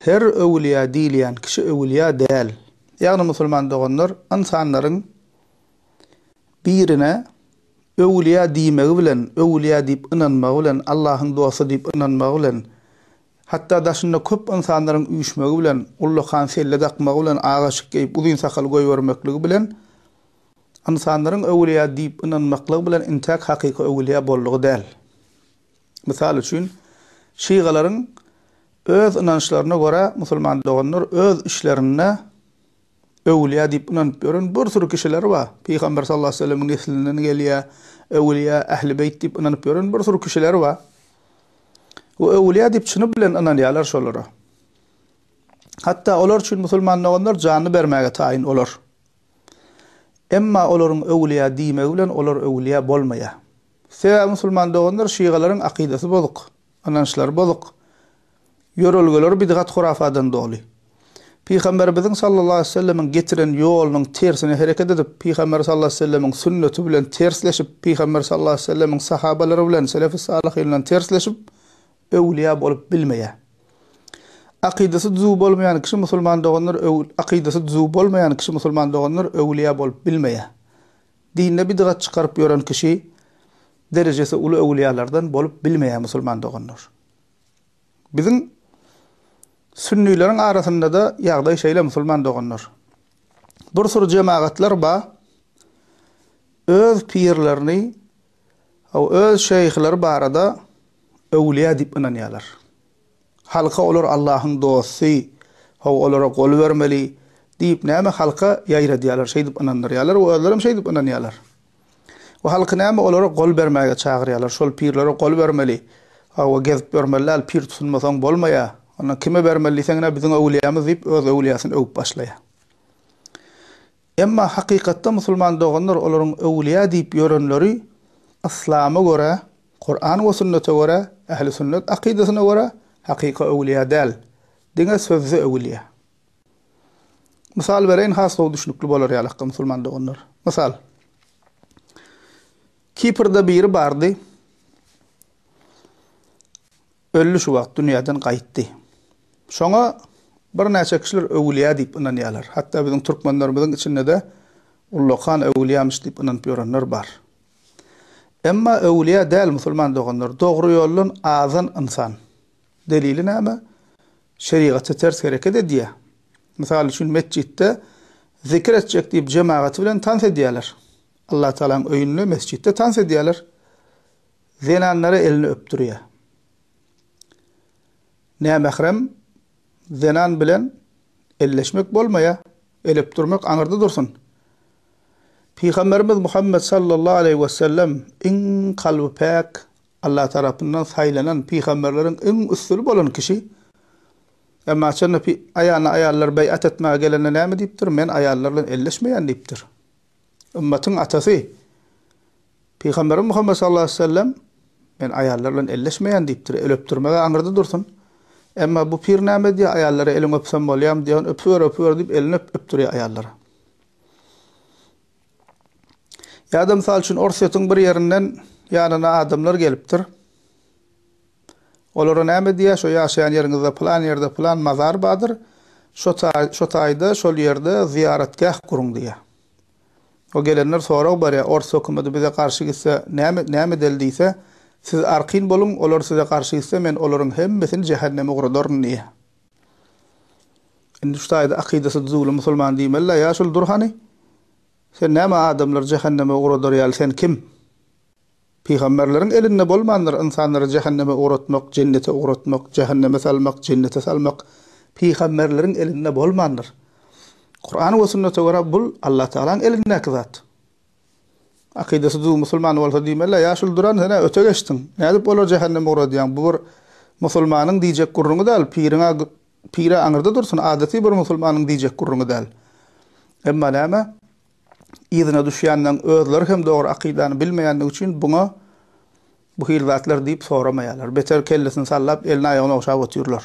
Her öwülýä diýilýän kişi öwülýä däl. Ýagny musulman doganlar ynsanlaryň birine öwülýä diýmegi bilen, öwülýä diýip ynanmagy bilen, Allahyň dosty diýip ynanmagy bilen, hatda daşynda köp ynsanlaryň üýşmegi bilen, ullakan selle dakmagy bilen, agaçyk geýip uzyn sakal goýbermekligi bilen ynsanlaryň öwülýä diýip ynanmaklygy bilen intäk hakyky öwülýä boldugy däl. Mysal üçin, şygalaryň öz ynançlaryna görä musulman doganlar öz işlerinde öwülýä diýip ynanyp ýören bir süri kişiler bar. Pygamber sallallahu aleýhi we sellemiň neslinden gelýä, öwülýä, ähli beýt diýip ynanyp ýören bir süri kişiler bar. We öwülýä diýip çyny bilen ynanýarlar şolara. Hatda olar üçin musulman doganlar janyny bermäge taýyn olar. Emma olaryň öwülýä diýmegi bilen olar öwülýä bolmaýar. Sebäbi musulman doganlar şygalaryň akydasy bozuk, ynançlary bozuk, ýörelgeleri bidgat-hurafadan doly. Pygamberimiziň sallallahu aleýhi wesellemiň getiren ýolunyň tersine hereket edip, Pygamber sallallahu aleýhi wesellemiň sünneti bilen tersleşip, Pygamber sallallahu aleýhi wesellemiň sahabalary bilen selefi salyhyndan tersleşip, öwlüýä bolup bilmeýär. Akydasy düzüw bolmaýan kişi musulman doganlar akydasy düzüw bolmaýan kişi musulman doganlar öwlüýä bolup bilmeýär. Dinde bidgat çykaryp ýören kişi derejesi uly öwülýalardan bolup bilmeýär musulman doganlar. Biziň sünnileriň arasyndada ýagdaý şeýle musulman doganlar. Bir süri jemagatlar ba öz pirlerini o öz şeýhleri barada öwülýä diýip ynanýalar. Halka olar Allahyň dosty, how olara gol bermeli diýip näme halka ýaýradýarlar, şeýdip ynandyrýarlar we özlerem şeýdip ynanýarlar. We halky näme olara gol bermäge çagyrýarlar, şol pirlere gol bermeli, hawa gezip ýörmeli däl, pir tutunmasaň bolmaýar, onda kime bermeli diýseň ine biziň öwlýämiz diýip öz öwlýäsini öwüp başlaýar. Emma hakykatda musulman doganlar olaryň öwlüýä diýip ýörenleri yslama görä, Kuran we sünnete görä, ähli sünnet akydasyna görä hakyky öwlüýä däl, diňe sözde öwlüýä. Mysal bereýin has gowy düşnükli bolar ýaly hakda musulman doganlar. Mysal. Kiprde biri bardy. Öldi şu wagt dünýäden gaýtdy. Şoňa birnäçe kişiler öwülýä diýip ynanýarlar. Hatda biziň türkmenlerimiziň içinde-de ullakan öwülýämiş diýip ynanyp ýörenler bar. Emma öwülýä däl musulman doganlar, dogry ýoldan azan ynsan. Delili näme? Şerigata ters hereket edýä. Mysal üçin metjitde zikir etjek diýip jemagaty bilen tans edýäler. Allatagalaň öýünde, mesjitde tans edýäler. Zenanlara elini öpdürýä. Nämährem zenan bilen elleşmek bolmaýa, el öpdürmek aňyrda dursun. Pygamberimiz Muhammet sallallahu aleýhi we sellem iň kalby päk, Allah tarapyndan saýlanan pygamberleriň iň üstüni bolan kişi. Emma şonda aýana aýallar beýat etmäge gelende näme diýipdir? Men aýallar bilen elleşmeýän diýipdir. Ymmatyň atasy, Pygamberimiz Muhammet sallallahu aleýhi we sellem, Men aýallar bilen elleşmeýän diýipdir, el öpdürmeg-ä aňyrda dursun. Emma bu pir näme edýär, aýallara eliňi öpsem bolýarmy diýýän, öpüber, öpüber diýip, elini öp, öpdürýär aýallara. Ýa-da, mysal üçin, Orsýetiň bir ýerinden ýanyna adamlar gelipdir. Olara näme diýýär, şo ýaşaýan ýeriňizde pylan ýerde pylan mazar bardyr, şo taý, şo taýda, şol ýerde zyýaratgäh guruň diýýär. O gelenler sorag berýär, ors hökümeti bize garşy gitse, näme, näme edeli diýse, siz arkin boluň, olar size garşy gitse, men olaryň hemmesini jähenneme ugradaryn diýýär. Indi şu taýda akydasy düzüwli musulman diýmeli-le, ýa şul dur hany, sen näme adamlary jähenneme ugradar ýaly, sen kim? Pygamberleriň elinde bolmandyr ynsanlary jähenneme ugratmak, jennete ugratmak, jähenneme salmak, jennete salmak, pygamberleriň elinde bolmandyr. Kuran we sünnete görä bul Allatagalaň elindäki zat. Akydasy düzüw musulman bolsa diýmelä, ýa şul duran sen-ä öte geçdiň, nädip olary jähenneme ugradýaň, bu bir musulmanyň diýjek gürrüňi däl, piriň-ä pir-ä aňyrda dursun, adaty bir musulmanyň diýjek gürrüňi däl. Emma näme? yzyna düşýänleň özleri hem dogry akydany bilmeýändigi üçin buňa bu hili zatlar diýip soramaýarlar. Beter kellesini sallap, elini-aýagyny ogşap otyrlar.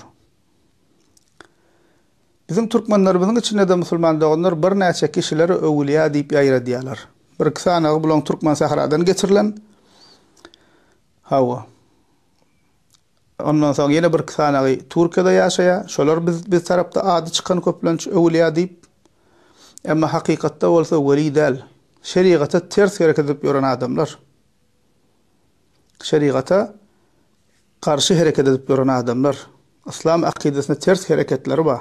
Biziň türkmenlerimiziň içinde-de musulman doganlar birnäçe kişileri öwülýä diýip ýaýradýarlar. Bir-iki sanagy bulaň türkmen sähradan getirilen. Hawa. Ondan soň ýene birki sanagy Türkiýede ýaşaýar. Şolar biz biz tarapda ady çykan köplenç öwülýä diýip. Emma hakykatda bolsa weli däl. Şerigata ters hereket edip ýören adamlar. Şerigata garşy hereket edip ýören adamlar. Yslam akydasyna ters hereketleri bar.